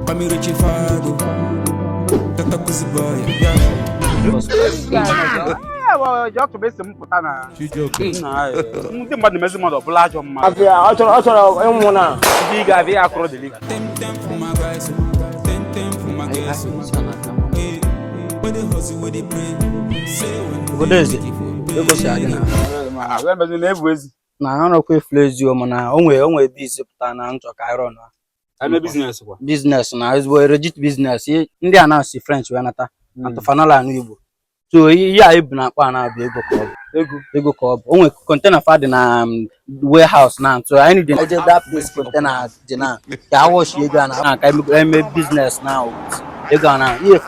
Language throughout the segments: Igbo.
Pamiruci Fado Tata Kuziboy Yeah just bụ esi m pụta na ndị mmadụ na-emezi mmadụ ọ bụla ajọ mma ọ chọrọ ịnwụ na ndị ị ga-abịa ya akụrụ dịlị obodo eze egosi adị na na-ebu ezi na arụkwa efula ezio mana o nwere o nwere ebe e si pụta na nchọ ka iron na eme biznes kwa biznes na ezigbo legit biznes ndị a na-asị french wee nata atụfanala anụ igbo so ihe a ebu na akpa a na-abụ ego ka ọ bụ ego ego ka ọ bụ o nwere kontena fa dị na um, warehouse na so anyị dị eje that place kontena dị na ka awọchi ego a na na ka eme- eme biznes na ego a na ihe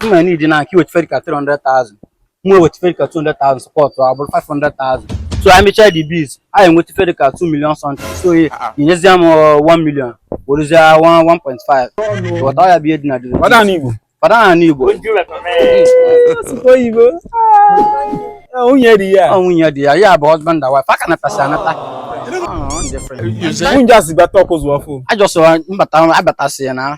mma nidi na ka i weta ife dị ka 300,000 m wee weta ife dị ka 200,000 sọpọtụ ọ bụrụ 500,000 so anyị mechaa the biz anyị enweta ife dị ka 2 million something so i nyezie m 1 million werezie 1.5 ghọta ọ ya bụ ihe dị na dịrị Fada na Igbo. fada na n'igbo Oyibo. Nwunye dị ya. ọ nwunye dị ya ya bụ husband and wife aka natasi anata Nwunye asị bata Ọkụzụ fụ. ajọsọ mbata abatasị ya na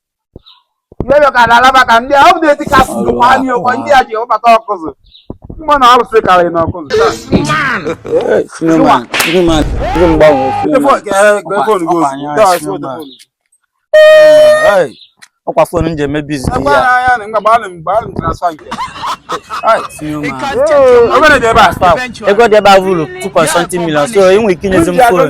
Iyoyo ka na Alaba ka ndị a ọ bụ na-eti ka asụ ndụ kwa anyị ọkwa ndị a ji abata Ọkụzụ. Mma na ọrụ sị karị na Ọkụzụ. Suleman, Suleman, ndị mgbanwe Suleman. Ọkwa fon m ji eme bizi ya. Ego dị ebe a vụrụ 2.something million so ị nwere ike inyezi m fon.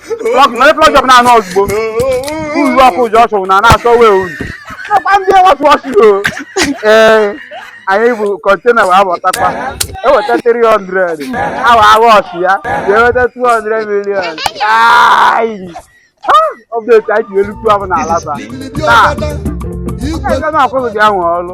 Plọg na plọg jọb na-anọ ozugbo. Uru ọkụ ji ọchụ na na-asọ wee uru. Nakwa ndị wọtụ ọchụ o. Ee, anyị bụ kọntena wee abọtakwa. Eweta 300. Awa awa ọchụ ya. Ya eweta 200 million. Ayi. Ha! Ọbdeti anyị ji elu kwuo abụ na Alaba. Taa, Igwe na-akwụghị gị ahụ ọrụ.